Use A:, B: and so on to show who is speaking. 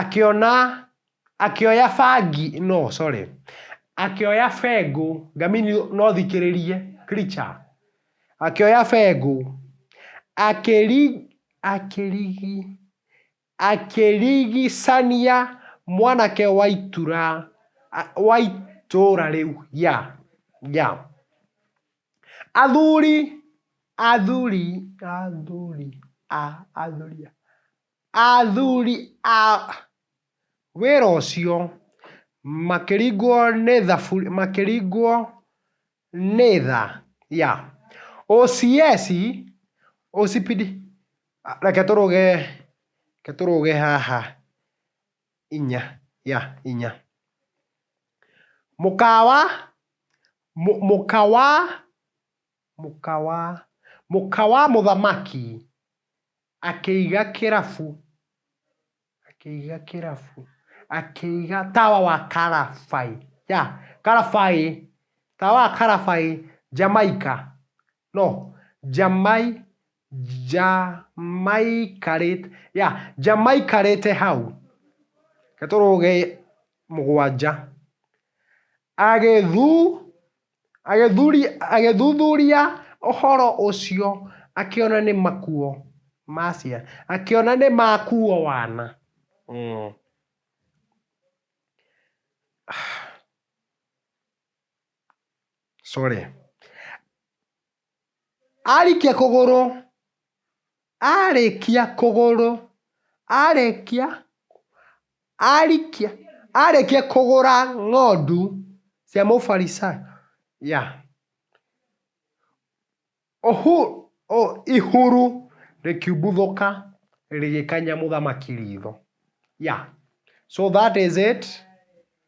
A: Akĩona, akĩoya bangi, no sorry, akĩoya bengũ, ngamĩni no ũthikĩrĩrie, creature, akĩoya bengũ, akĩri, akĩrigi, akĩrigicania mwanake wa itura, wa itũra rĩu, yeah, yeah. Athuri, athuri, athuri, a, athuri a. Athuri a wĩra ũcio makĩringwo nĩ thabu makĩringwo nĩ tha ya OCS ũcipidi reke tũrũge reke tũrũge haha inya ya inya. Mũkawa mũ mũkawa mũkawa mũkawa mũthamaki Akĩiga kĩrabu, akĩiga kĩrabu, akĩiga tawa wa Karabai, yeah, Karabai, tawa wa Karabai, Jamaica, no, Jamai, Jamaikarĩte, yeah, Jamaikarĩte hau, nĩ tũrũgĩ mũgwanja, agĩthu. Agĩthuthuria ũhoro ũcio akĩona nĩ makuo ma ciana, akĩona nĩ makuo wana. Sorry. Arĩkia kũgũrũ, arĩkia kũgũrũ, arĩkia, arĩkia, arĩkia kũgũra ng'ondu cia mũbarisayo, yeah ũhu, ihuru rĩkiumbũthũka rĩgĩkania mũthamaki ritho, yeah so that is it.